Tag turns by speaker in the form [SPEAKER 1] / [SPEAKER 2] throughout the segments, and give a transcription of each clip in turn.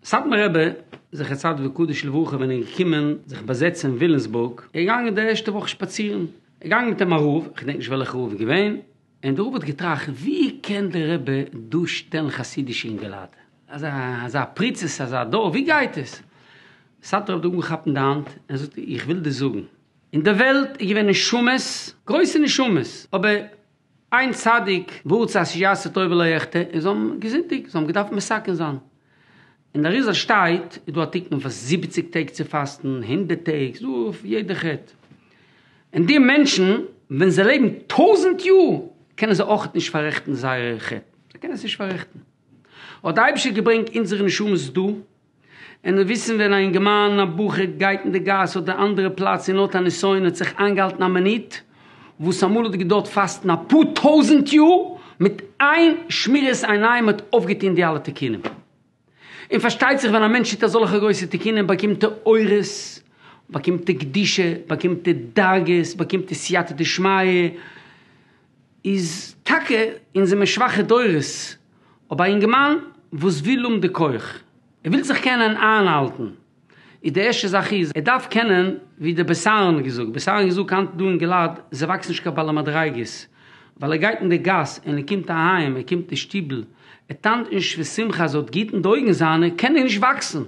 [SPEAKER 1] סאטמאר רבי זכר צדיק וקדוש לברכה ווען ער איז געקומען זיך באזעצן אין ווילימסבורג איז ער געגאנגען די ערשטע וואך שפאצירן איז געגאנגען מיט אים א רב איך געדענק נישט וועלכע רב איז געווען און דער רב האט געטראכט ווי קען דער רבי דא שטעלן חסידישע אינגעלייט אזא אזא פריצות אזא דור ווי גייט עס? סאטמאר רב האט אנגעכאפט אים די האנט און זאגט איך וויל דיר זאגן. אין די וועלט איז געווען נשמות, גרויסע נשמות, אבער איין צדיק ווארט צו השי ת עשה טוב ולא אחטא, און זיי האבן געזינדיגט, זיי האבן געדארפט מסכן זיין. אין די אריז ל שטייט, איז דא א תיקון פאר זיבעציג טעג צו פאסטן, הונדערט טעג, ס'איז דא אויף יעדע חטא. און די מענטשן, ווען זיי לעבן טויזנט יאר, קענען זיי אויך נישט פאררעכטן זייערע חטא. זיי קענען עס נישט פאררעכטן. האט די אייבערשטער געברענגט אונזערע נשמות דא, און מיר וויסן ווען א אינגערמאן, א בחור, גייט אין די גאס אדער אנדערע פלאץ און האט א נסיון האט זיך איינגעהאלטן א מינוט, וואס אמאל האט געדוירט פאסטן א פאר טויזנט יאר, מיט איין שמירת עיניים האט ער אויפגעטון די אלע תיקונים. און פארשטייט זיך ווען א מענטש טוט אזאלכע גרויסע תיקונים באקומט ער אורות, באקומט ער קדושה, באקומט ער דרגות, באקומט ער סייעתא דשמיא, איז טאקע אונז זעמיר שוואכע דורות, אבער א אינגערמאן וואס וויל האבן די כח, ער וויל זיך קענען איינהאלטן, איז די ערשטע זאך איז ער דארף קענען, ווי דער בעש ט האט געזאגט, בעש ט האט געזאגט היינט דא אין געלעד, זיי וואקסן נישט קיין בעלי מדריגות, ווייל ער גייט אין די גאס און ער קומט אהיים, ער קומט אין שטיבל, ער טאנצט נישט פון שמחה אז ער האט גוט אין די אויגן זיינע, קען ער נישט וואקסן.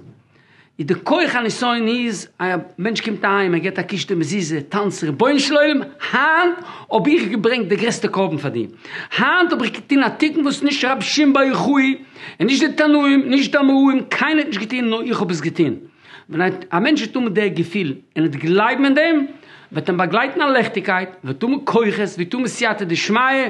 [SPEAKER 1] איז די כח הניסיון איז א מענטש קומט אהיים ער געט א קישטע מזוזה טאנץ רבונו של עולם היינט האב איך געברענגט די גרעסטע קרבן פאר דיר היינט האב איך געטון א תיקון וואס נישט רבי שמעון בר יוחאי און נישט די תנאים נישט די אמוראים קיינער האט נישט געטון נאר איך האב עס געטון ווען א מענטש וועט האבן די געפיל און וועט גלייבן אין דעם וועט אים באגלייטן א לעכטיגקייט וועט האבן כוחות וועט האבן סייעתא דשמיא.